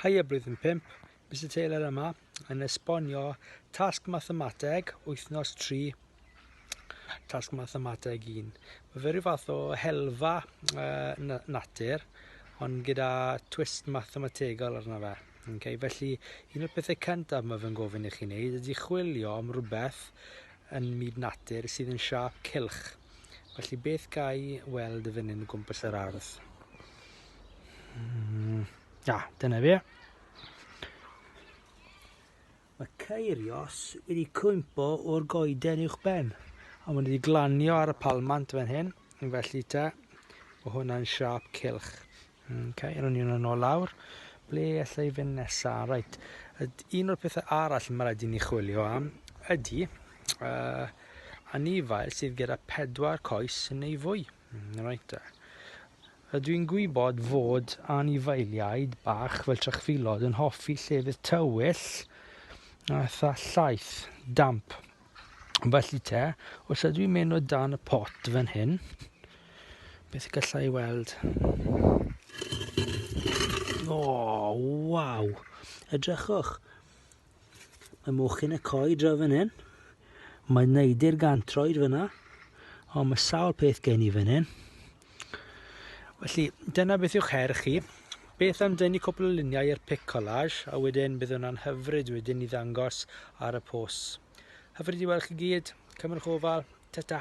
Haia Blwyddyn Pump, Mister Taylor yma yn esbonio tasg mathemateg wythnos 3, tasg mathemateg 1. Mae fe rhyw fath o helfa uh, natur, ond gyda twist mathemategol arno fe. Okay, felly, un o'r pethau cyntaf mae fe'n gofyn i chi wneud ydy chwilio am rhywbeth yn myd natur sydd yn siap cilch. Felly, beth gai weld y fynnyn o gwmpas yr ardd? Mm, da, dyna fi. Mae ceirios wedi cwympo o'r goeden uwch ben. A mae'n wedi glanio ar y palmant fan hyn. Yn felly te, o hwnna'n siap cilch. Okay, rwy'n ni'n yn ôl lawr. Ble allai fynd nesaf? Right. Un o'r pethau arall mae rhaid i ni chwilio am ydy uh, anifail sydd gyda pedwar coes neu fwy. Mm, right te. Ydw i'n gwybod fod anifeiliaid bach fel trachfilod yn hoffi llefydd tywyll a tha llaeth, damp. Felly te, os ydw i'n mynd o dan y pot fan hyn, beth y gallai weld? O, oh, waw! Edrychwch, Mae mochyn y coed draw fan hyn. Mae neidi'r gantroed fyna. O, mae sawl peth gen i fan hyn. Felly, dyna beth yw'ch her chi. Beth am dynnu cwpl o luniau i'r pic collage, a wedyn bydd hwnna'n hyfryd wedyn i ddangos ar y pos. Hyfryd i weld chi gyd. Cymrwch ofal. Ta-ta.